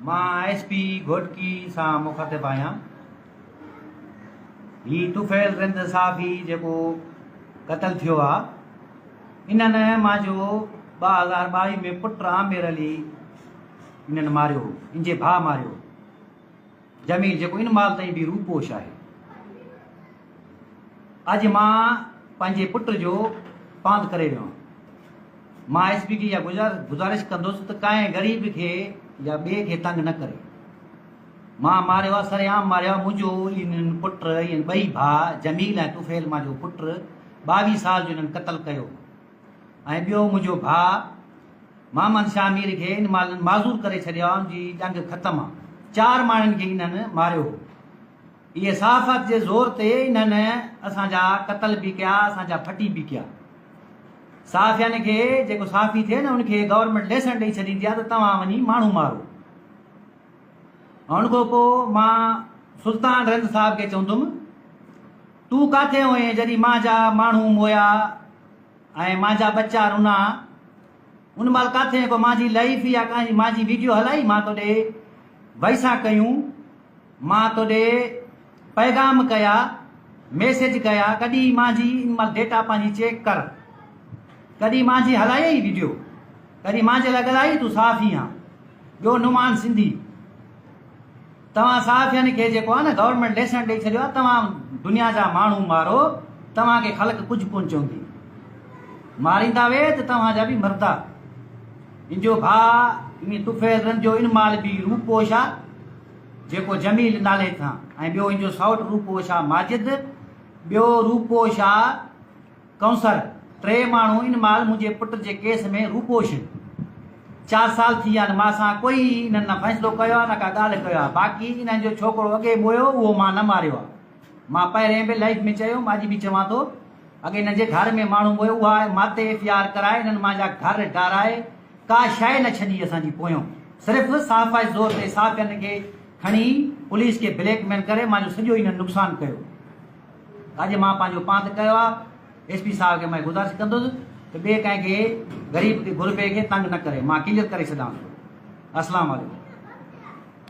مان I S P Ghotki سان مخاطب آهيان. هي طفيل رند صحافي جيڪو قتل ٿيو آ انهن مان جو ٻه هزار ٻاويهه ۾ پٽ عامر علي انهن ماريو هو انجي ڀاء ماريو هو. جميل، جيڪو ان مال تائين به روپوش آهي. اڄ مان پنهنجي پٽ جو پاند ڪري ويو آهيان. مان ايس پي کي اها گذارش ڪندس ته ڪنهن غريب کي يا ٻئي کي تنگ نه ڪري. مان ماريو آهي، سر عام ماريو آهي. منهنجو انهن پٽ، انهن ٻئي ڀاء جميل ۽ طفيل مان جو پٽ ٻاويهه سال جو انهن قتل ڪيو هو. ۽ ٻيو منهنجو ڀاء محمد شاهه مير کي ان مالن معذور ڪري ڇڏيو آ ان جي ڄنگ ختم آ چار ماڻهن کي انهن ماريو هو اهي صحافت جي زور تي انهن اسان جا قتل به ڪيا اسان جا ڦٽي به ڪيا صحافين کي جيڪو صحافي ٿئي نه ان کي گورنمنٽ ليسن ڏئي ڇڏيندي آ ته توهان وڃي ماڻهو مارو ان کان پو مان سلطان رند صاحب کي چوندم تون ڪاٿي هئين جڏي مان جا ماڻهو مويا ۽ مانجا ٻچا رنا ان مال ڪاٿين ڪو مانجي لائيف يا ڪانجي مانجي ويڊيو هلائي مان توڏي وئيسا ڪيون مان توڏي پيغام ڪيا ميسج ڪيا ڪڏي مانجي ان مال ڊيٽا پانجي چيڪ ڪر ڪڏي مانجي هلائي ئي ويڊيو ڪڏي مانجي لاء ڳلائي تو صافي هان ٻيو نمان سنڌي توهان صحافين کي جيڪو آهي نه گورنمينٽ ليسن ڏئي ڇڏيو آهي توهان دنيا جا ماڻهو مارو توهان کي خلق ڪجهه ڪون چوندي ماريندا وي ته توهان جا به مردا ان جو ڀاء ان طفيل رنديو ان مال به روپو شا جيڪو جميل نالي ٿان ۽ ٻيو ان جو سائوٽ روپو شا ماجد ٻيو روپو شا ڪئونسر، ٽي ماڻهو ان مال منهنجي پٽ جي ڪيس ۾ روپوش هن. چار سال ٿي ويا آهن مان سان ڪوئي انهن نه فيصلو ڪيو آهي نه ڪا ڳالهه ڪيو آهي باقي انهن جو ڇوڪرو اڳي مويو اهو مان نه ماريو آهي مان پهرين به لائيف ۾ چيو هوم اڄ به چوان ٿو اڳي هن جي گهر ۾ ماڻهو مويو اها آهي ماتي ايف اي آر ڪرائي انهن مان جا گهر ڊارائي ڪا شئي نه ڇڏي اسان جي پويون صرف صحافائي زور تي صحافين کي کڻي پوليس کي بليڪ ميل ڪري مان جو سڄو انهن نقصان ڪيو اڄ مان پنهنجو پانڌ ڪيو آ ايس پي صاحب کي مان گذارش ڪندس ته ٻي ڪنهن کي غريب غربي کي تنگ نه ڪري مان ڪليئر ڪري ڇڏيان ٿو اسلام عليڪم.